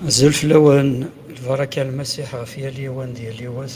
Azul fell-awen, lbaraka n Lmasiḥ ɣef yal yiwen d yal yiwet.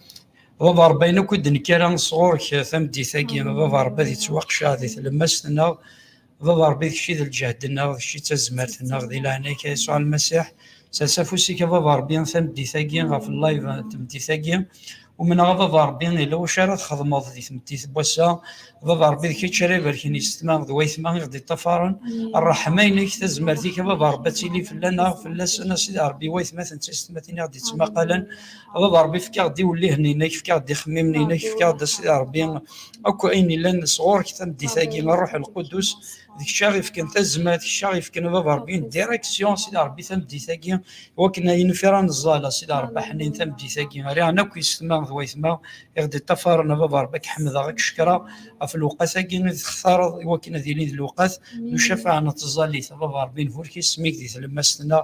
Baba Rebbi, ayen akk i d-nekkara sɣur-k tameddit-agi, Baba Rebbi ad yettwaqceɛ di tlemmast-nneɣ, Baba Rebbi d kečč i d lǧehd-nneɣ, d kečč i d tazmert-nneɣ, di leɛnaya-k a Yasuɛ Lmasiḥ, sers afus-ik a Baba Rebbi tameddit-agi ɣef live n tmeddit-agi, umneɣ a Baba Rebbi yella wacu ara txedmeḍ di tmeddit n wass-a, Baba Rebbi d kečč ara ibarken yessetma d wayetma i ɣ-d-iṭṭafaren, ṛṛeḥma-inek, tazmert-ik a Baba Rebbi ad tili fell-aneɣ, fell-asen a Sidi Ṛebbi, i wayetmaten d tisetmatin i ɣ-d-yettmaqalen, a baba rebbi fek-aɣ-d iwellihen-inek fek-aɣ-d ixemmimen-inek fek-aɣ-d a sidi rebbi akk ayen yellan sɣur-k tameddit-agi ṛṛuḥ lqudus d kečč aɣ ifken tazmert kečč aɣ ifken a baba rebbi direksyon sidi rebbi tameddit-agi iwakken ayen ufiɣ ad neẓẓal a sidi rebbi ḥnin tameddit-agi riɣen akk yessetma d wayetma i ɣ-d-iṭṭafaren a baba rebbi ad k-ḥemdeɣ ad k-cekkreɣ ɣef lewqat-agi i d-textareḍ iwakken ad ilin d lewqat n ucafaɛ n tẓallit a baba rebbi nburek isem-ik di tlemmast-nneɣ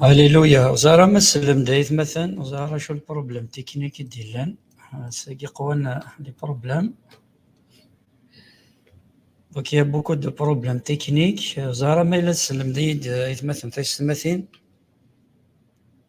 Alléluia. Ẓer am asellem d aytmaten, ẓer acu lproblem tiknik i d-illan. Sagi qwan li problem. Donc il y a beaucoup de problèmes techniques. Ẓer am ay la tsellemd-iyi-d aytmaten taysetmatin.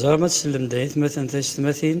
Ẓṛam ad tsellem d aytmaten taysetmatin.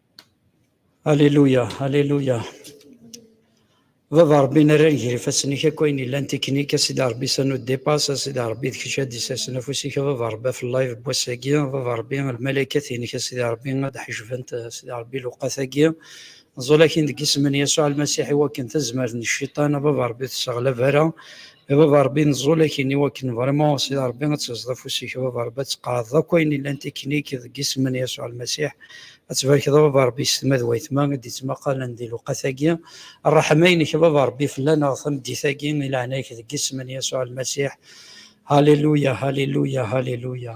Alléluia, Alléluia. Baba Rebbi nerra nger ifassen-ik akk ayen yellan tiknik, a Sidi Rebbi ça nous dépasse, a Sidi Rebbi d kečč ad d-isasen afus-ik, a Baba Rebbi ɣef live n wass-agi, a Baba Rebbi lmalaikat-inek, a Sidi Rebbi ad ḥejbent, a Sidi Rebbi luqat-agi, نزول akin deg isem n Yasuɛ Lmasiḥ i wakken tazmert n cciṭan, a Baba Rebbi tesseɣlab ara, a baba rebbi neẓẓul akin iwakken vraiment si rebbi ad teẓẓed afus-ik a baba rebbi ad tqeɛdeḍ akk ayen yellan tiknik deg isem n Yasuɛ Lmasiḥ ad tbarkeḍ a baba rebbi s tma d wayetma i d-ittmaqalen di lewqat-agi rreḥma-inek a baba rebbi fell-aneɣ tameddit-agi i leɛnaya-k deg isem n Yasuɛ Lmasiḥ Haliluya, haliluya, haliluya.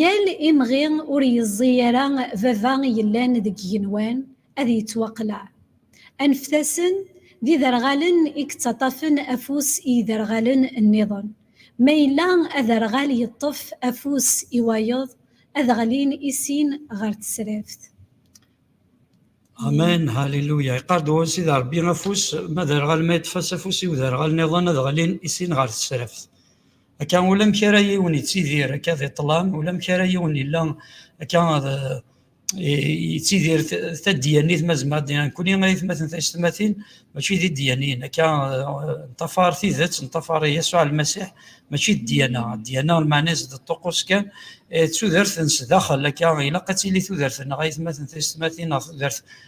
Yal imɣi ur yeẓẓi ara baba yellan deg igenwan ad yettwaqleɛ. Anfetasen d iderɣalen i yettaṭafen afus i yiderɣalen nniḍen. Ma yella aderɣal yeṭṭef afus i wayeḍ, ad ɣlin i sin ɣer tesraft. Amen, hallelujah. Iqardu d Sidi Rebbi afus, ma d arɣal ma yeṭṭef-as afus i uderɣal niḍen ad ɣlin i sin ɣer tesraft. akka ulamek ara yiwen yettidir akka di ṭṭlam ulamek ara yiwen yella akka yettidir taddiyanit ma zemmer ad nenkuni aytmaten taysetmatin mačči d iddiyanin akka ntafar tidet ntafar Yasuɛ Lmasiḥ mačči d ddiyana ddiyana lmeɛna-s d ṭṭuqus kan d tudert n sdaxel akka ilaq ad tili tudert-nneɣ aytmaten taysetmatin neɣ tudert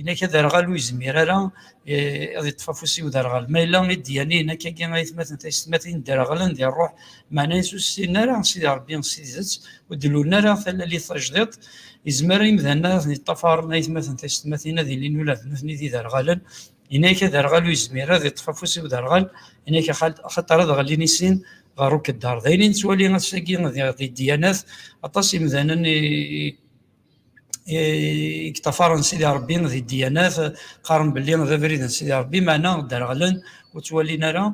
inak aderɣal ur yezmir ara eh, ad yeṭṭef afus i uderɣal ma yella i d-yani inak agi aytmaten taysetmatin derɣlen di ṛṛuḥ meɛna ur ssin ara sidi ṛebbi s tidet ur d-lulen ara talalit tajdiṭ yezmer imdanen ad ten-yeṭṭafaren aytmaten taysetmatin ad ilin ula d nutni d iderɣalen inak aderɣal ur yezmir ad yeṭṭef afus i uderɣal inak axaṭer ad ɣellin i sin ɣer ukeddar d ayen i nettwali ass-agi di dyanat aṭas imdanen i yeṭṭafaren Sidi Rebbi di ddiyanat qqaren belli d abrid n Sidi Rebbi meɛna dderɣlen ur ttwalin ara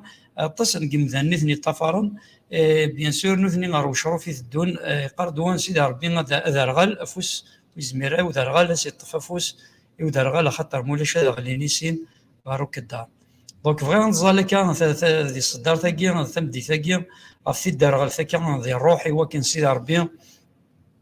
aṭas n yimdanen i ten yeṭṭafaren bien sûr nutni ɣer wecruf i teddun yeqqar-d wa n Sidi Rebbi aderɣal afus izmir i uderɣal ad s-yeṭṭef afus i uderɣal axaṭer ma ulac ad ɣlin i sin ɣer ukeddar donc bɣiɣ ad nẓal akka di ṣeddart-agi tameddit-agi ɣef tidderɣelt akka di ṛṛuḥ i wakken Sidi Rebbi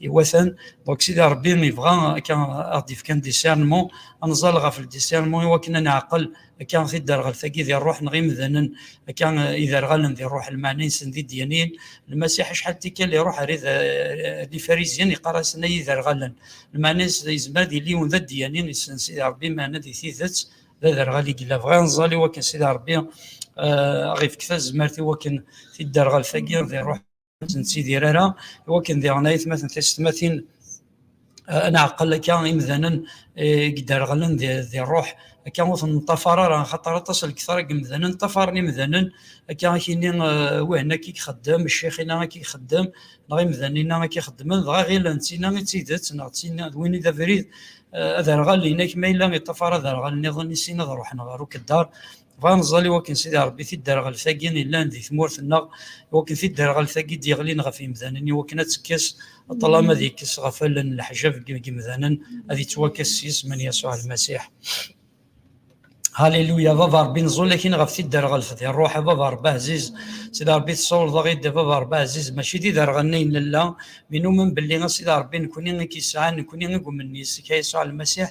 iwatan donc sidi rebbi yebɣa akka ad d-yefk un discernement ad nẓal ɣef discernement iwakken ad neɛqel akka tidderɣelt-agi di ṛṛuḥ neɣ imdanen akka iderɣalen di ṛṛuḥ lmeɛna-nsen d idyanin lmasiḥ acḥal tikkal iṛuḥ ar ifarizyen iqqar-asen ay iderɣalen lmeɛna yezmer ad yili yiwen d adyani yessen sidi ṛebbi meɛna di tidet d aderɣal i yella bɣiɣ ad nẓal iwakken sidi ṛebbi aɣ-ifk tazmert iwakken tidderɣelt-agi di ṛṛuḥ ur nettidir ara i wakken diɣen ayetmaten tisetmatin ad nɛqel akka imdanen i yedderɣlen di ṛṛuḥ akka ur ten-neṭṭafar ara axaṭer aṭas n lektar i yemdanen ṭṭafaren imdanen akka ad ak-yini win akka i ixeddem ccix-inna akka i ixeddem neɣ imdanen-inna akka i xeddmen dɣa ɣilen d tinna i d tidet neɣ d tinna d win i d abrid aderɣal-inek ma yella iṭṭafar aderɣal-nniḍen i sin ad ṛuḥen ɣer ukeddaṛ Bɣa neẓẓal i wakken Sidi Ṛebbi tidderɣelt-agi yellan di tmurt-nneɣ, i wakken tidderɣelt-agi d-yeɣlin ɣef yimdanen, i wakken ad tekkes ṭṭlam, ad yekkes ɣef allen leḥjab n yimdanen, ad ittwakkes s yisem n Yasuɛ Lmasiḥ. Haliluya, Baba Ṛebbi, neẓẓul akin ɣef tidderɣelt di ṛṛuḥ, a Baba Ṛebbi ɛziz, Sidi Ṛebbi tessawleḍ-aɣ-id, a Baba Ṛebbi ɛziz, mačči d iderɣalen ay nella, mi numen belli a Sidi Ṛebbi, nekkni i k-yesɛan, nekkni i yumnen yis-k, a Yasuɛ Lmasiḥ,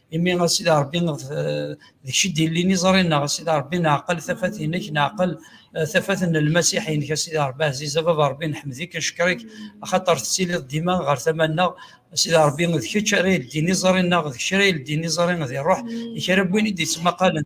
imi a sidi rebbi d kečč i d-illin iẓri-nneɣ a sidi rebbi neɛqel tafat-nnek neɛqel eh, tafat n lmasiḥ-nnek a sidi rebbi ɛziz a baba rebbi nḥemmed-ik neckeṛ-ik axaṭer tettiliḍ dima ɣer tama-nneɣ a sidi rebbi d kečč ara yeldin iẓri-nneɣ d kečč ara yeldin iẓri di ṛṛuḥ i kra n win i d-yettmaqalen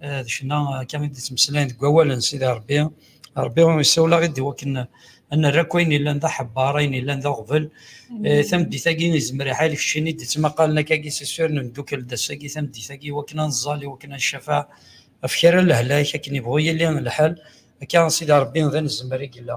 d ccna akka i d-ttmeslayen deg wawal n Sidi Ṛebbi, Ṛebbi isawel-aɣ-id i wakken ad nerr akk ayen yellan d aḥebbar, ayen yellan d aɣbel. Tameddit-agi izmer iḥal kečč i d-ittmaqalen akka-agi s iswi, ad nemdukkel d ass-agi tameddit-agi i wakken ad nẓall, i wakken ad ncafeɛ ɣef kra n lehlak akken yebɣu yili lḥal. Akka a Sidi Ṛebbi d anezmer i yella.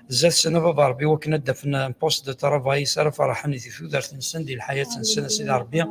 zdat sen a baba rebbi wakken ad d-afen un poste de travail s ara ferrḥen di tudert-nsen di lḥayat-nsen a sidi rebbi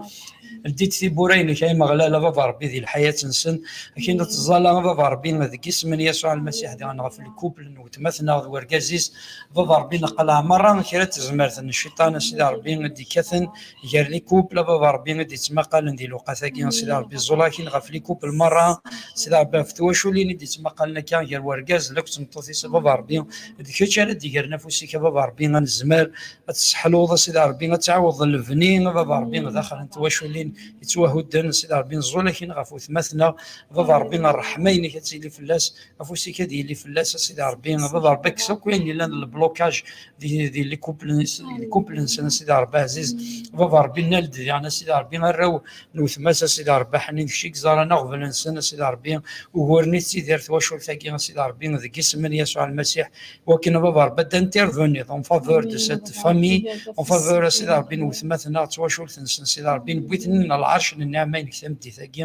ldi-d tiwwura-inek ay Ameɣlal a baba rebbi di lḥayat-nsen akin ad teẓẓala a baba rebbi deg isem n Yasuɛ Lmasiḥ diɣen ɣef lkupl n weltma-tneɣ d wergaz-is a baba rebbi neqleɛ merra kra n tezmert n cciṭan a sidi rebbi i d-ikkaten gar likupl a baba rebbi i d-ittmaqalen di lewqat-agi sidi rebbi ẓẓulakin ɣef likupl merra sidi rebbi ɣef twaculin i d-ittmaqalen akka gar wergaz d akk tmeṭṭut-is a baba rebbi d kečč ara d-igren afus-ik a baba rebbi ad nezmer ad tesseḥluḍ a sidi rebbi ad tɛawdeḍ lebni a baba rebbi daxel n twaculin yettwahudden sidi rebbi nẓulakin ɣef wetmaten-a a baba rebbi ṛṛeḥma-inek ad tili fell-as afus-ik ad yili fell-as a sidi rebbi ad rebbi kkes akk ayen yellan lblokaj di likumpel-nsen a sidi rebbi ɛziz baba rebbi nal-d diɣen a sidi rebbi arraw n wetma-s a sidi rebbi ḥnin kečč i yeẓran aɣbel-nsen a sidi rebbi uguren i tettidir twacult-agi a sidi rebbi deg isem n Yasuɛ Lmasiḥ wakken baba rebbi ad d-interveniḍ en faveur de cette famille en faveur a sidi rebbi n wetma-tneɣ d twacult-nsen a sidi rebbi newwi-ten-id ɣer lɛerc n nneɛma-inek tameddit-agi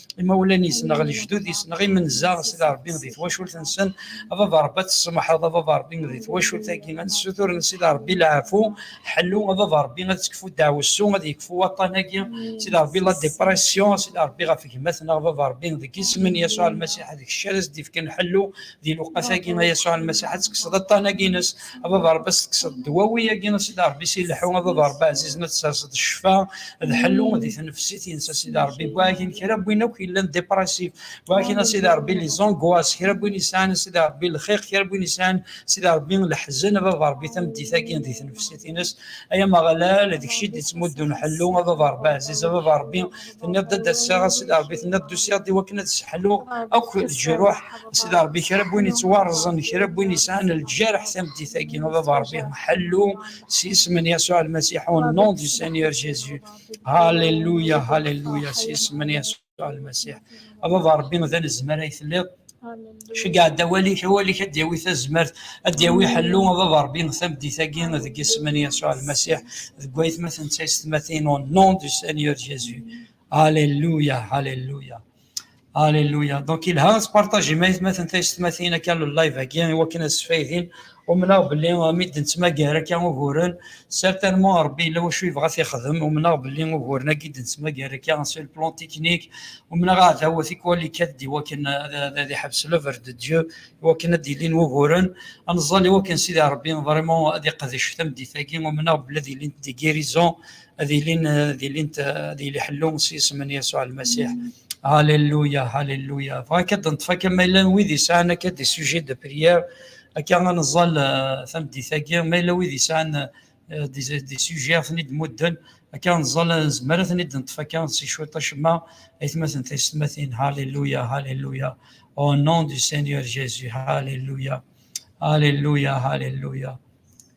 imawlan yesneɣ lejdud yesneɣ imenza s Rebbi di twacult nsen a baba Rebbi ad tsemḥeḍ a baba Rebbi di twacult agi ad nessutur n Sidi Rebbi leɛfu ḥellu a baba Rebbi ad tekfu ddaɛwessu ad yekfu waṭṭan agi Sidi Rebbi la depression Sidi Rebbi ɣef gma-tneɣ baba Rebbi deg isem n Yasuɛ Lmasiḥ d kečč ara as-d-ifken ḥellu di lewqat-agi a Yasuɛ Lmasiḥ ad tekkseḍ aṭṭan-agi-ines, ad aḍ-Ṛebbi ad s-tekkseḍ ddwawi-agi a Sidi Ṛebbi si leḥḥu, ad aḍ-Ṛebbi ɛzizen ad tesserseḍ ccfa d ḥellu di tnefsit-ines a Sidi Ṛebbi, wwi akin kra n win akk yellan depressif, wwi akin a Sidi Ṛebbi les angoisses, kra n win yesɛan a Sidi Ṛebbi lxiq, kra n win yesɛan a Sidi Ṛebbi leḥzen, ad aḍ-Ṛebbi tameddit-agi di tnefsit-ines, ay Ameɣlal, d kečč i d-yettmuddun ḥellu, ad aḍ-Ṛebbi ɛziz, ad aḍ-Ṛebbi tenniḍ d ass-a a sidi rebbi tenniḍ d-usiɣ-d iwakken ad sseḥluɣ akk leǧruḥ a sidi rebbi kra n win yettwarẓen kra n win yesɛan lǧerḥ tameddit-agi a baba rebbi ḥellu s isem n Yasuɛ Lmasiḥ au nom du Seigneur Jésus Alléluia Alléluia s isem n Yasuɛ Lmasiḥ a baba rebbi d anezmar ay telliḍ ceggeɛ-d awal-ik awal-ik ad d-yawi tazmert ad d-yawi ḥellu a baba rebbi tameddit-agi deg isem n yasuɛ lmasiḥ deg waytmaten d taysetmatin au nom du seigneur jésus alléluia alléluia alléluia donc ilha ad tpartajim aytmaten taysetmatin akka live-agi iwakken ad sfaydin Umneɣ belli mi d-nettmagar akka uguren, certainement Rebbi yella wacu yebɣa ad t-yexdem, umneɣ belli uguren-agi i d-nettmagar akka sur le plan technique, umneɣ aɛdaw tikwal ikkat-d i wakken ad iḥbes l'oeuvre de Dieu, i wakken ad d-ilin wuguren, ad neẓẓal i wakken Sidi Rebbi vraiment ad iqdec tameddit-agi, umneɣ belli ad ilint des guérisons, ad ilin, ad ilint, ad yili ḥellu s yisem n Yasuɛ Lmasiḥ. Alléluia, Alléluia. Bɣiɣ akka ad d-neṭṭef akka ma yella wid yesɛan akka des sujets de prière, Akka ad neẓẓal eh, tameddit-agi, ma yella wid yesɛan eh, des sujets ad ten-id-mudden, akka ad neẓẓal eh, nezmer ad ten-id-neṭṭef akka si cwiṭ acemma, aytmaten taysetmatin, halleluya, halleluya, au nom du Seigneur Jésus, halleluya, halleluya, halleluya.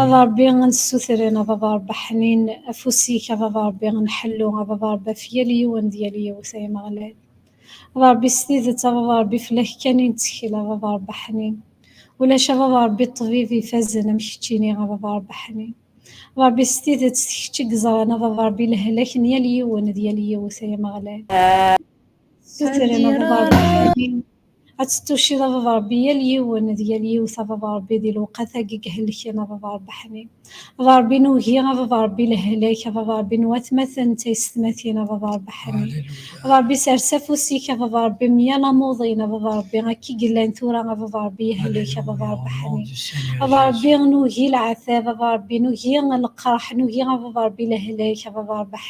a Ṛebbi ad nessutren a baba Ṛebbi ḥnin afus-ik a baba Ṛebbi nḥellu a baba Ṛebbi ɣef yal yiwen d yal yiwet ay Ameɣlal a baba Ṛebbi s tidet a baba Ṛebbi fell-ak kan i nettkel a baba Ṛebbi ḥnin ulac a baba Ṛebbi ṭṭbib ifazen am keččini a baba Ṛebbi ḥnin a baba Ṛebbi s tidet d kečč i yeẓran a baba Ṛebbi lehlak n yal yiwen d yal yiwet ay Ameɣlal ad nessutren a baba Ṛebbi ḥnin Ad tettucciḍ a baba Rebbi yal yiwen d yal yiwet a baba Rebbi di lewqat-agi i ihelken a baba Rebbi ḥni. A baba Rebbi nugi a baba Rebbi lehlak a baba Rebbi n watmaten d taysetmatin a baba Rebbi ḥni. A baba Rebbi sers afus-ik a baba Rebbi meyal amuḍin a baba Rebbi akka i yellan tura a baba Rebbi yehlek a baba Rebbi ḥni. A baba Rebbi nugi leɛtab a baba Rebbi nugi lqerḥ nugi a baba Rebbi lehlak a baba Rebbi ḥni.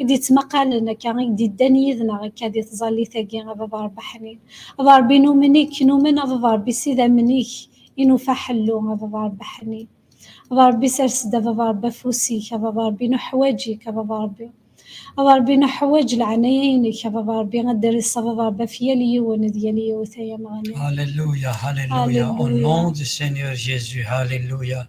i d-yettmaqalen akka, i d-yeddan yid-neɣ akka di tẓallit-agi, a baba Rebbi ḥnin, a baba Rebbi numen-ik, numen a baba Rebbi s idammen-ik i nufa ḥellu, a baba Rebbi ḥnin, a baba Rebbi sers-d a baba Rebbi afus-ik, a baba Rebbi nuḥwaǧ-ik, a baba Rebbi, a baba Rebbi nuḥwaǧ leɛnaya-inek, a baba Rebbi ad d-res a baba Rebbi ɣef yal yiwen d yal yiwet ay Ameɣlal. Alléluia, Alléluia, au nom du Seigneur Jésus, Alléluia.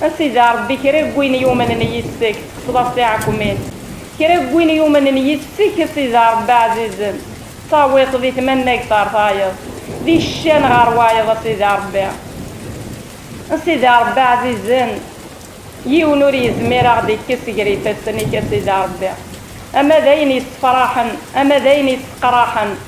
A Sidi a Ṛebbi, kra n win yumnen yis-k, tekkseḍ-as tiɛekmin, kra n win yumnen yis-k, a Sidi a Ṛebbi, ɛzizen, tettawiḍ-t di tmannagt ɣer tayeḍ, di ccan ɣer wayeḍ, a Sidi a Ṛebbi. A Sidi a Ṛebbi ɛzizen, yiwen ur yezmir a ɣ-d-ikkes ger ifassen-ik, a Sidi a Ṛebbi, ama d ayen yessefṛaḥen, ama d ayen yesseqṛaḥen,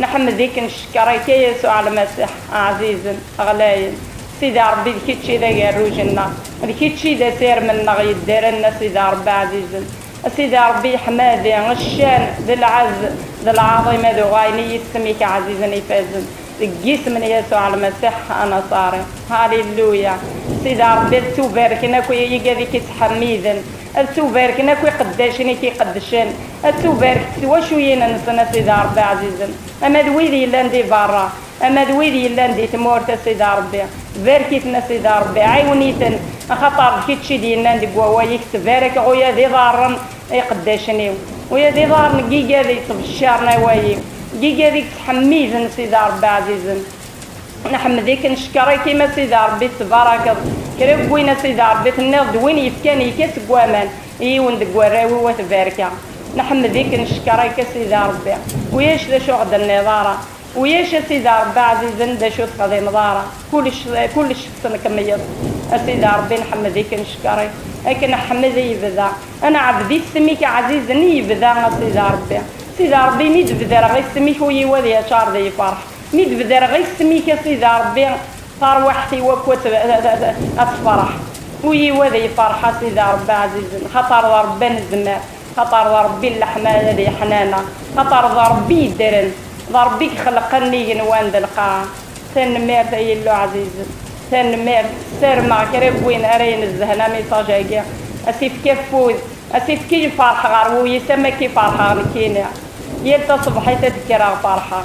Nḥemmed-iken ccekṛ-ik a Yasuɛ Lmasiḥ, ɛzizen, ɣlayen. Sidi Ṛebbi d kečč i d agerruj-nneɣ, d kečč i d asirem-nneɣ yeddren, a Sidi Ṛebbi ɛzizen. A Sidi Ṛebbi yeḥmadi, ccan, d lɛezz, d lɛaḍima d uɣayen i yisem-ik ɛzizen ifazen, deg yisem n Yasuɛ Lmasiḥ Anaṣari. Haliluya! Sidi Ṛebbi ad ttubarken akk igad i k-ittḥemmiden. Ad ttubarken akk iqeddacen i k-iqeddcen, ad ttubarek twacuyin-nsen, a Sidi Ṛebbi ɛzizen, ama d wid yellan di beṛṛa, ama d wid yellan di tmurt, a Sidi Ṛebbi, barek-iten, a Sidi Ṛebbi, ɛiwen-iten, axaṭer d kečč i d-yennan deg wawal-ik, Ttbarekeɣ uya d iḍarren n iqeddacen-iw, uya d iḍarren n yigad yettbeccaren awal-iw, n yigad i yettḥemmiden, Sidi Ṛebbi ɛzizen. Nḥemmed-ik, ncekkeṛ-ik-im a Sidi Ṛebbi, tettbaṛakeḍ kra n win a Sidi Ṛebbi, tenniḍ-d win yefkan yekka seg waman i yiwen deg warraw-iw a tbarka. Nḥemmed-ik, ncekkeṛ-ik a Sidi Ṛebbi, ulac d acu ɣ-d-tenniḍ ara, ulac a Sidi Ṛebbi aɛzizen d acu texdimeḍ ara, kullec kullec tesnekmeyeḍ-t a Sidi Ṛebbi, nḥemmed-ik, ncekkeṛ-ik, ad k-neḥmed i yebda ad neɛbed isem-ik aɛzizen i yebda a Sidi Ṛebbi. Sidi Ṛebbi mi d-bedreɣ isem-ik ul-iw ad yaččaṛ d lfeṛḥ, Mi d-bedreɣ isem-ik a Sidi Ṛebbi, tarwiḥt-iw akk ad tefreḥ. Ul-iw ad yefreḥ a Sidi Ṛebbi ɛzizen, xaṭer d Ṛebbi anezmar, xaṭer d Ṛebbi n leḥmala d yeḥnana, xaṭer d Ṛebbi yeddren, d Ṛebbi ixelqen n igenwan d lqaɛa. Tanemmirt ay Illu ɛzizen, tanemmirt. Ssarmeɣ kra n win ara inezzhen amiṣaj-agi, a s-ifk afud, a s-ifk lferḥ ɣer wul-is am wakk i ferḥeɣ nekkini. Yal taṣebḥit ad d-kkreɣ ferḥeɣ.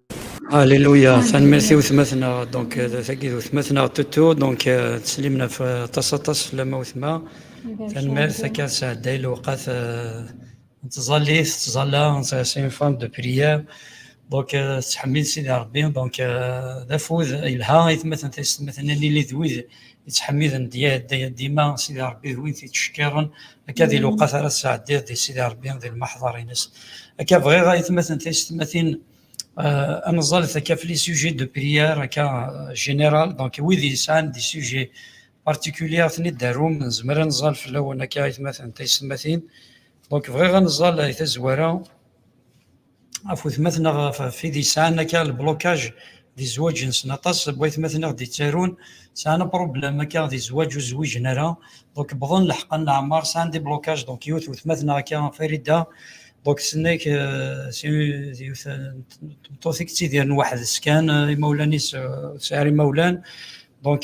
Alléluia, tanemmirt i wetma-tneɣ, donc euh, tagi d wetma-tneɣ Tutu, donc euh, teslim ɣef euh, aṭas aṭas fell-am a wetma, tanemmirt akka tesɛedday lewqat n tẓallit, tettẓalla, c'est une femme de prière, donc tettḥemmil Sidi Rebbi, donc d afud yelha i tmaten taysetmaten ad nili d wid yettḥemmiden dima Sidi Rebbi d wid yettcekkiren akka di lewqat ara tesɛeddiḍ di Sidi Rebbi di lmaḥḍar-ines akka bɣiɣ ayetmaten taysetmatin euh, ad neẓẓalet akka fli sujet de prière akka euh, général donc wid yesɛan di sujet particulier ad ten-id-arum nezmer ad neẓẓal fell-awen akka ayetmaten taysetmatin donc bɣiɣ ad neẓẓal ay tazwara ɣef wetmat neɣ ɣef id yesɛan akka lblokaj di zzwaǧ-nsen aṭas n waytmaten i ɣ-d-ittarun sɛan apṛublam akka di zzwaǧ ur zwiǧen ara donc wwḍen leḥqan n leɛmar sɛan des blocages donc yiwet n wetmat neɣ akka Farida donc tenna-ak d yiwet n tmeṭṭut i yettidiren weḥd-s kan imawlan-is ur tesɛi ara imawlan donc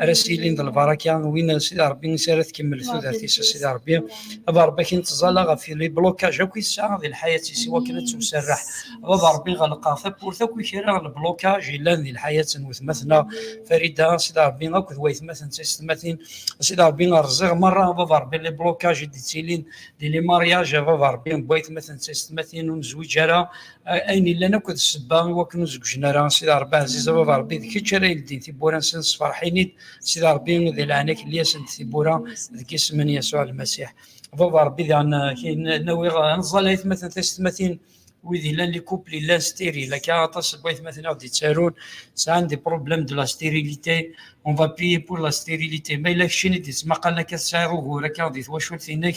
ara s-yilin d lbaraka win a sidi rebbi i s-ara tkemmel tudert-is a sidi rebbi baba rebbi akin teẓẓala ɣef li blokaj akk i tesɛa di lḥayat-is i wakken ad tewserreḥ baba rebbi ɣelqeɣ tawwurt akk i kra n lblokaj yellan di lḥayat n wetmat-nneɣ farida a sidi rebbi akk d waytmat n taysetmatin a sidi rebbi rẓiɣ merra baba rebbi li blokaj i d-yettilin di li mariaj baba rebbi n waytmat n taysetmatin ur nezwiǧ ara ayen yellan akk d sebba i wakken ur zegjen ara sida rebbi ɛziz a baba rebbi d kečč ara yeldin tibbura nsen sferḥin-id sida rebbi di leɛnak li asen d tibbura deg isem n yasuɛ lmasiḥ baba rebbi daɣen nawiɣ anẓal aytmaten taysetmatin wid yellan li couple yellan stérile akka aṭas n waytmaten aɣ d-yettarun sɛan des problèmes de la stérilité on va prier pour la stérilité ma yella keččini d-yettmaqalen akka tesɛiḍ ugur akka di twacult-inek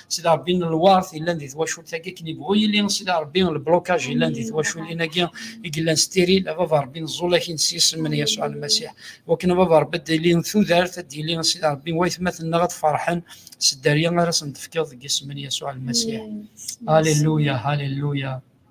Sidi Rebbi n lwart yellan di twacult-agi akken yebɣu yili Sidi Rebbi lblokaj yellan di twaculin-agi i yellan stiril a baba Rebbi neẓẓul akin s yisem n Yasuɛ Lmasiḥ wakken a baba Rebbi ad d-ilin tudert ad d-yili Sidi Rebbi waytmaten-nneɣ ad ferḥen s dderya ara sen-d-tefkiḍ deg yisem n Yasuɛ Lmasiḥ Halleluya Halleluya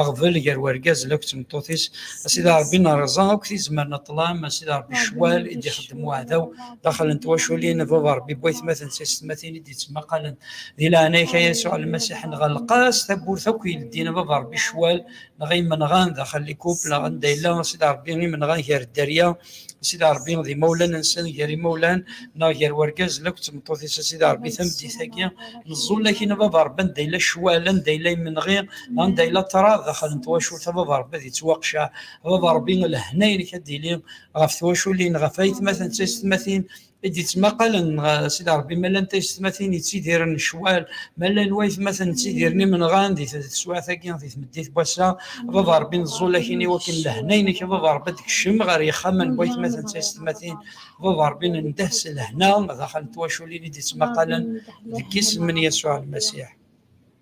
aɣbel gar urgaz d tmeṭṭut-is a sidi rebbi nerẓa akk tizmer n ṭṭlam a sidi rebbi ccwal i d-ixeddem uɛdaw daxel n twaculin baba rebbi bu aytmaten s aysetmatin i d-yettmaqalen di leɛnaya-k a yasuɛ lmasiḥ nɣelleq-as tawwurt akk yeldin baba rebbi ccwal neɣ imenɣan daxel n ikup neɣ anda yella a sidi rebbi imenɣan gar dderya Sidi Ṛebbi d imawlan-nsen gar imawlan neɣ gar urgaz la akked tmeṭṭut-is a Sidi Ṛebbi tameddit-agi neẓẓul akkin a Baba Ṛebbi anda yella ccwal anda yella imenɣi anda yella ṭṭrad daxel n twacult a Baba Ṛebbi ad yettwaqceɛ a Baba Ṛebbi lehna-inek ad d-yili ɣef twaculin ɣef aytmaten d taysetmatin i d-ittmaqalen Sidi Ṛebbi ma llan taysetmatin yettidiren ccwal ma llan waytmaten ttidiren imenɣan di teswiɛt-agi di tmeddit n wass-a baba Ṛebbi neẓẓul akin i wakken lehna-inek baba Ṛebbi ad d-kcem ɣer yixxamen n waytmaten taysetmatin baba Ṛebbi nendeh s lehna daxel n twaculin i d-ittmaqalen deg yisem n Yasuɛ Lmasiḥ.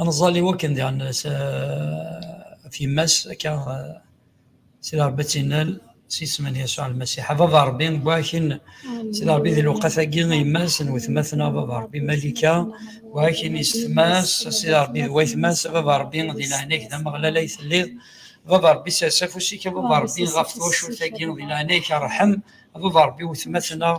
aneẓẓal iwakken diɣen s af yemma-s akka sida rebbi ad tinal s isem n yasuɛ lmasiḥ a baba rebbi wakin sida rebbi di lewqat-agi yemma-s n wetmaten a baba rebbi malika wakin isetma-s sida rebbi d waytma-s a baba rebbi di leɛnag d ameɣlal ay telliḍ baba rebbi sers afus-ik a baba rebbi ɣef twacult-agi di leɛnag-ik arḥem baba rebbi wetmatna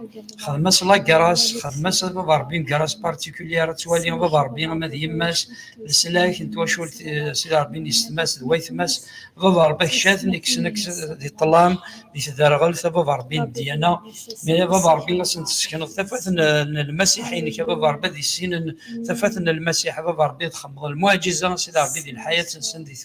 xdem-as lagraas xdem-as baba rebbi ngaras particulière ad twali baba rebbi ama d yemma-s leslak n twacult eh, sidi rebbi n yessetma-s d waytma-s baba rebbi akcaten iksen-aks di ṭlam di tderɣelt a baba rebbi n ddiyana mi a baba rebbi ad sen-tessekneḍ tafat n lmasiḥ-inek a baba rebbi ad issinen tafat n lmasiḥ a baba rebbi ad txemmeḍ lmuɛjiza sidi rebbi di lḥayat-nsen di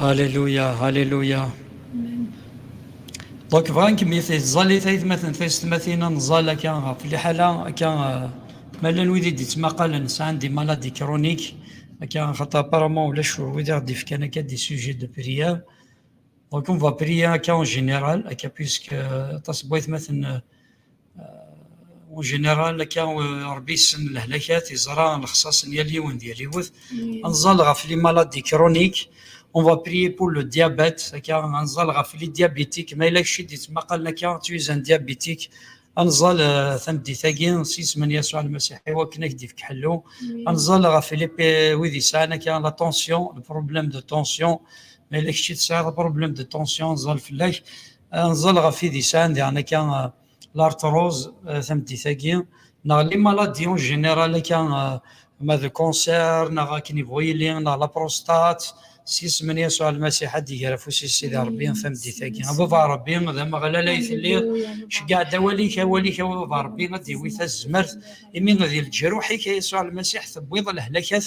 Halleluja, halleluja. Donc bɣan kem it ẓẓalit aytmaten taysetmatin ad nẓal akka ɣef liḥala akka ma llan wid i d-ittmaqalen sɛan di maladi kronik akka xaṭa apparemment ulac wid i ɣ-d-ifkan akka di sujet de prière donc on va prier akka en général akka puisque aṭas n waytmaten euh, Au général, akka Rebbi yessen lehlakat, yeẓra lexṣaṣ n yal yiwen d yal yiwet. Ad nẓal ɣef les maladies chroniques, on va prier pour le diabète, akka ad nẓal ɣef les diabétiques, ma yella kečč i d-yettmaqalen akka, tu es un diabétique, ad nẓal tameddit-agi s yisem n Yasuɛ Lmasiḥ i wakken ad ak-d-ifk ḥellu, ad nẓal ɣef wid yesɛan akka la tension, le problème de tension, ma yella kečč i tesɛiḍ problème de tension ad nẓal fell-ak, Ad nẓel ɣef wid yesɛan diɣen akka l'arthrose tameddit-agi neɣ les maladies en général akka ma d cancer neɣ akken yebɣu yili neɣ la prostate s yisem n Yasuɛ Almasiḥ ad d-iger afus-is Sidi Rebbi tameddit-agi. A Baba Rebbi, d Ameɣlal ay telliḍ, ceggeɛ-d awal-ik, awal-ik a Baba Rebbi ad d-iwi tazmert, imi d leǧruḥ-ik a Yasuɛ Almasiḥ tewwiḍ lehlakat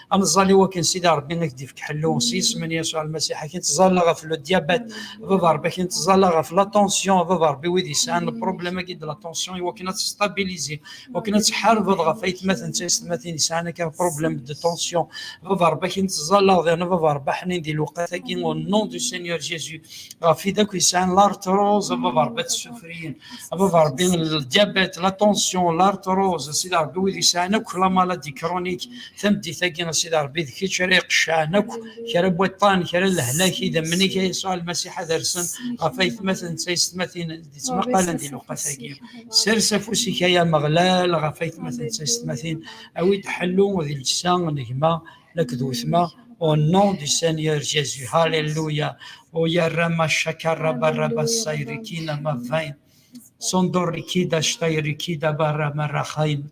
ad neẓẓal i wakken sidi rebbi ad k-d-ifk ḥellu s yisem n yasuɛ lmasiḥ ad k-nettẓalla ɣef le diabète baba rebbi ad k-nettẓalla ɣef la tension baba rebbi wid yesɛan le problème agi de la tension i wakken ad testabiliser wakken ad tḥarbeḍ ɣef aytmaten d taysetmatin yesɛan akka problème de tension baba rebbi ad k-nettẓalla ɣdiɣ baba rebbi ḥnin di lewqat agi au nom du Seigneur Jésus ɣef wid akk yesɛan l'arthrose baba rebbi ad tessufriyen baba rebbi le diabète la tension l'arthrose sidi rebbi wid yesɛan akk la maladie chronique tameddit-agi a Sidi Ṛebbi d kečč ara iqeccɛen akk kra n waṭṭan kra n lehlak idammen-ik a Yasuɛ Lmasiḥ ad rsen ɣef aytmaten d taysetmatin d-ittmaqalen di lewqat-agi. Sers afus-ik ay Ameɣlal ɣef aytmaten d taysetmatin, awi-d ḥellu di llesa n gma la akked wetma Au nom du Seigneur Jésus, Alléluia. Oyarama shakara baraba sayrikina mavain. Sondorikida shtayrikida barama rahain.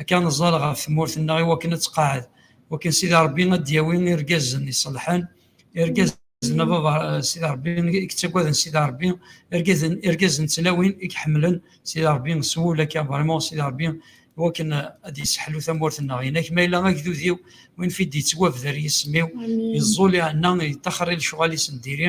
akka ad neẓẓal ɣef tmurt-nneɣ i wakken ad tqaɛed. Wakken Sidi Ṛebbi ad d-yawi irgazen iṣelḥen, irgazen a baba Sidi Ṛebbi i yettaggaden Sidi Ṛebbi, irgazen irgazen n tlawin i iḥemmlen Sidi Ṛebbi s wul akka vraiment Sidi Ṛebbi i wakken ad d-yesseḥlu tamurt-nneɣ. Inak ma yella agdud-iw win fi d-yettwabder yisem-iw, yeẓẓul iɛenna, yeṭṭaxer i lecɣal-is n diri,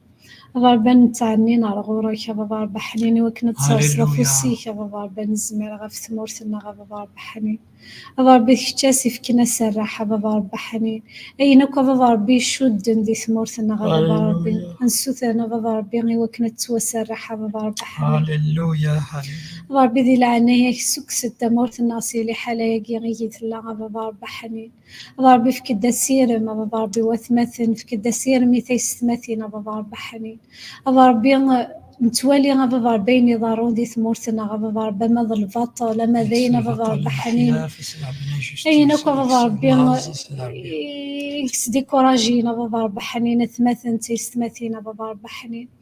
Aḍarba nettɛennin ar ɣur-k, a baba Rebbi ḥnin, i wakken ad d-tserseḍ afus-ik, a baba Rebbi anezmir, ɣef tmurt-nneɣ, a baba Rebbi ḥnin. A baba Rebbi d kečč as ifken aserreḥ, a baba Rebbi ḥnin. Ayen akk a baba Rebbi icudden di tmurt-nneɣ, a baba Rebbi, ansuten, a baba Rebbi, i wakken ad tettwaserreḥ, a baba Rebbi ḥnin. A baba Rebbi di leɛnaya-k ssukkes-d tamurt-nneɣ si liḥala-agi igi tella, a baba Rebbi ḥnin. Ṛebbi fek-d asirem, a Baba Ṛebbi watmaten, fek-d asirem i taysetmatin, a Baba Ṛebbi ḥnin. A Baba Ṛebbi nettwali a Baba Ṛebbi ayen iḍerrun di tmurt-nneɣ, a Baba Ṛebbi ama d lbaṭel, ama d ayen a Baba Ṛebbi ḥnin. Ayen akk a Baba Ṛebbi i s-d-ikkuṛajin a Baba Ṛebbi ḥnin, atmaten d taysetmatin a Baba Ṛebbi ḥnin.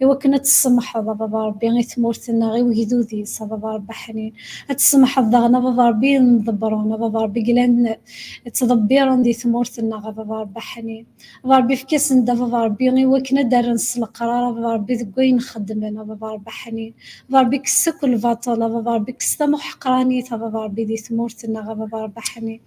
i wakken ad tessemḥeḍ a baba rebbi i tmurt-nneɣ i wegdud-is a baba rebbi aḥnin ad tessemḥeḍ daɣen a baba rebbi i nḍebbren a baba rebbi glan ttḍebbiren di tmurt-nneɣ a baba rebbi aḥnin a baba rebbi efk-asen-d a baba rebbi i wakken ad d-rren s leqrar a baba rebbi deg wayen xeddmen a baba rebbi aḥnin a baba rebbi kkes akk lbaṭel a baba rebbi kkes tamuḥeqranit a baba rebbi di tmurt-nneɣ a baba rebbi aḥnin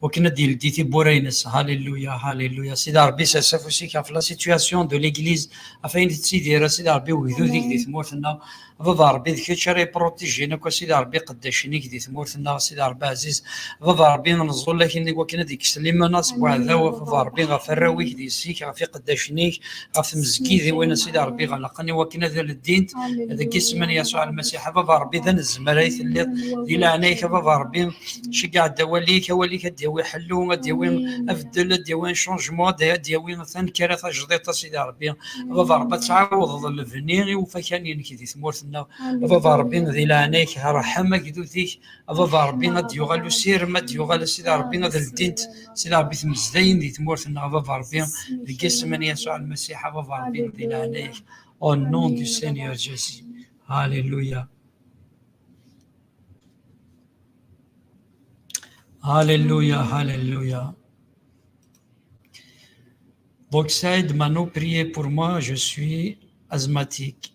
wakken ad d-yeldi tiwwura-nnes. Hallelujah, hallelujah. Sidi Ṛebbi, sers afus-ik ɣef la situation de l'Église, ɣef ayen tettidir, a Sidi Ṛebbi, wegdud-ik di tmurt-nneɣ. A Baba Ṛebbi, d kečč ara yeprotijin akk, a Sidi Ṛebbi, iqeddacen-ik di tmurt-nneɣ, a Sidi Ṛebbi ɛziz. A Baba Ṛebbi, neẓẓul-ak iwakken ad d-ikkes limana seg uɛdaw, a Baba Ṛebbi, ɣef arraw-ik, d yessi-k, ɣef iqeddacen-ik, ɣef tmezgidiwin a sidi rebbi ɣelqen i wakken ad leddint deg isem n yasuɛ almasiḥ a baba rebbi d anezmar ay telliḍ di leɛnaya-k a baba rebbi ceggeɛ-d awal-ik awal-ik ad d-yawi ḥellu ad d-yawi abeddel ad d-yawi changement ad d-yawi tanekkara tajdiṭ a sidi rebbi a baba rebbi ad tɛawdeḍ lebni i ufakan-nnek di tmurt-nneɣ a baba rebbi di leɛnaya-k rḥem agdud-ik aḍad Ṛebbi ad d-yuɣal usirem, ad d-yuɣal a Sidi Ṛebbi ad ldint Sidi Ṛebbi tmezdayin di tmurt-nneɣ aḍad Ṛebbi deg isem n Yasuɛ Lmasiḥ aḍad Ṛebbi di leɛnaya-k au nom du Seigneur Jésus Alléluia Alléluia Alléluia Donc Saïd Mano priez pour moi je suis asthmatique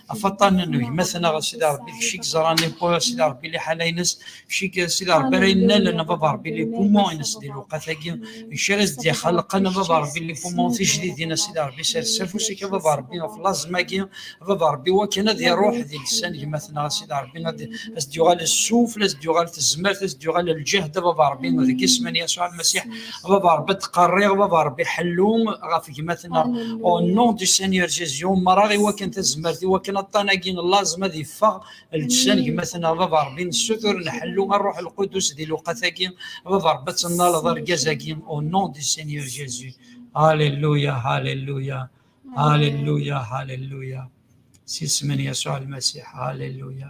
ɣef aṭṭan n gma-tneɣ ɣef sidi rebbi kečč i yeẓran iwwa sidi rebbi liḥala-ines kečč i sidi rebbi ara yennalen baba rebbi li pumon-ines di lewqat-agi kečč ara s-d-ixelqen baba rebbi li pumon tijdidin a sidi rebbi sers afus-ik a baba rebbi ɣef laẓem-agi a baba rebbi wakken ad iruḥ di lisan gma-tneɣ a sidi rebbi ad as-d-yuɣal ssuf ad as-d-yuɣal tezmert ad as-d-yuɣal lǧehd a baba rebbi deg isem n Yasuɛ Lmasiḥ baba rebbi ttqerriɣ baba rebbi ḥellu ɣef gmatna au nom du Seigneur Jésus umreɣ i wakken tazmert i wakken aṭṭan-agi n laẓem ad iffeɣ lǧsan gmatna baba rebbi nessutur nḥellu ṛṛuḥ lqudus di lewqat-agi baba rebbi ad tennaleḍ argaz-agi au nom du Seigneur Jésus Alléluia Alléluia Alléluia Alléluia si isem n Yasuɛ Lmasiḥ Alléluia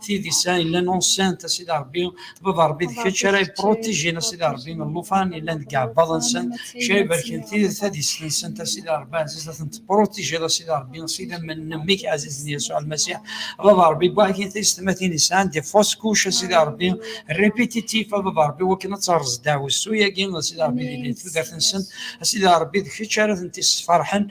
Tid yesɛa yellan enceinte a sidi Rebbi, baba Rebbi d kečč ara yepprotijin a sidi Rebbi llufan yellan deg iɛebbaḍ-nsent, kečč ara ibarken tid tadist-nsent a sidi Rebbi ɛziz a tent-tepprotijiḍ a sidi Rebbi s idammen n mmi-k ɛzizen Yasuɛ Lmasiḥ, baba Rebbi n waḥkin taysetmatin yesɛan des fausses couches a sidi Rebbi, répétitif a baba Rebbi wakken ad terreẓ ddeɛwessu-agi a sidi Rebbi di tudert-nsent, a sidi Rebbi d kečč ara tent-yessferḥen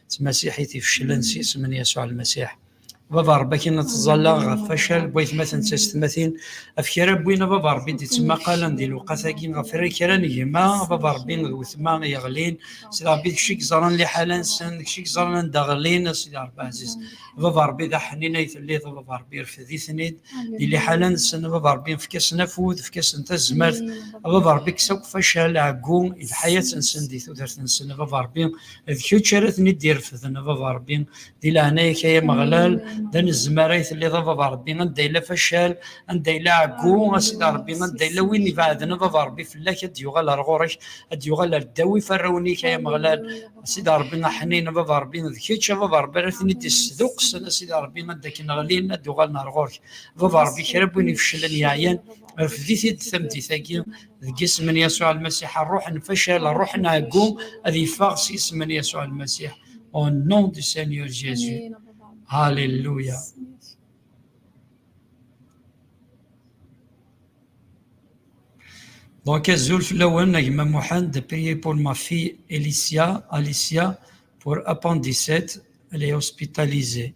tmasiḥit ifeclen s isem n Yasuɛ Lmasiḥ. Baba Rebbi akin ad teẓẓalleɣ ɣef wacal n waytmaten d taysetmatin, af kra n win a Baba Rebbi d-ittemmaqalen di lewqat-agi, ɣef kra n gma a Baba Rebbi d wetma yeɣlin, Sidi Rebbi d kečč i yeẓran liḥala-nsen, d kečč i yeẓran anda ɣlin, a Sidi Rebbi ɛziz. Baba Rebbi d aḥnin ay telliḍ, a Baba Rebbi rfed-iten-id di liḥala-nsen, a Baba Rebbi efk-asen afud, efk-asen tazmert, a Baba Rebbi kkes akk facal, ɛeggu i lḥayat-nsen di tudert-nsen, a Baba Rebbi d kečč ara ten-id-irefden a baba rebbi di leɛnaya-k ay ameɣlal d anezmar ay telliḍ a baba rebbi anda yella facal anda yella ɛeggu a sidi rebbi anda yella win ibeɛden a baba rebbi fell-ak ad yuɣal ar ɣur-k ad yuɣal ar ddawi farrawen-ik ay ameɣlal a sidi rebbi aḥnin a baba rebbi d kečč a baba rebbi ara ten-id-isduqsen a sidi rebbi anda akken ɣlin ad uɣalen ar ɣur-k baba rebbi kra n win ifeclen yeɛyan refd-it-id tameddit-agi deg isem n Yasuɛ Lmasiḥ, ṛṛuḥ n facal, ṛṛuḥ n ɛeggu, ad yeffeɣ s isem n Yasuɛ Lmasiḥ. Au nom du Seigneur Jésus. Alléluia. Donc, Azul Flawen, Agma Mohan, de payer pour ma fille Alicia, Alicia, pour appendicite, elle est hospitalisée.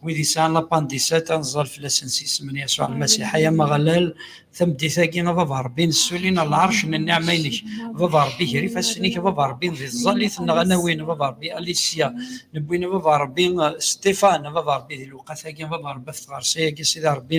wid yesɛan lapandisat ad nẓer fell-asen s isem n Yasuɛ Lmasiḥ, ay Ameɣlal, tameddit-agi a Baba Ṛebbi, nessulin ɣer lɛerc n nniɛma-inek, a Baba Ṛebbi, ger ifassen-ik a Baba Ṛebbi di tẓallit-nneɣ, a nawin a Baba Ṛebbi Alicia, newwin a Baba Ṛebbi Stéphane a Baba Ṛebbi di lewqat-agi a Baba Ṛebbi ɣef tɣersa-agi a Sidi Ṛebbi,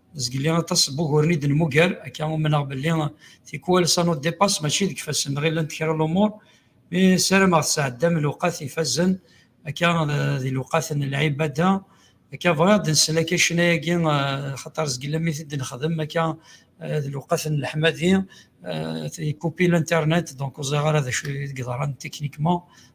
zgelli aṭas n wuguren i d-nemmuger akka umneɣ belli tikwal ça nous dépasse mačči deg ifassen neɣ llant kra n lumuṛ mi ssarameɣ tesɛeddam lewqat ifazen akka di lewqat n lɛibada akka bɣiɣ ad nsel akka ccna-agi xaṭer zgelli mi t-id-nexdem akka d lewqat n leḥmadi ikupi l'internet donc ur ẓriɣ ara d acu i d-yeḍran techniquement.